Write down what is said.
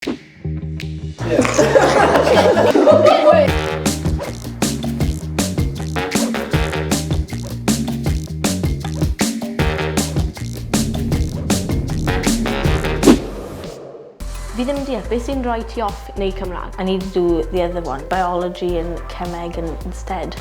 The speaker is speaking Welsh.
Fi ddim yn deall beth sy'n rhoi ti off neu Cymraeg. I need to do the other one, biology and cemeg and instead.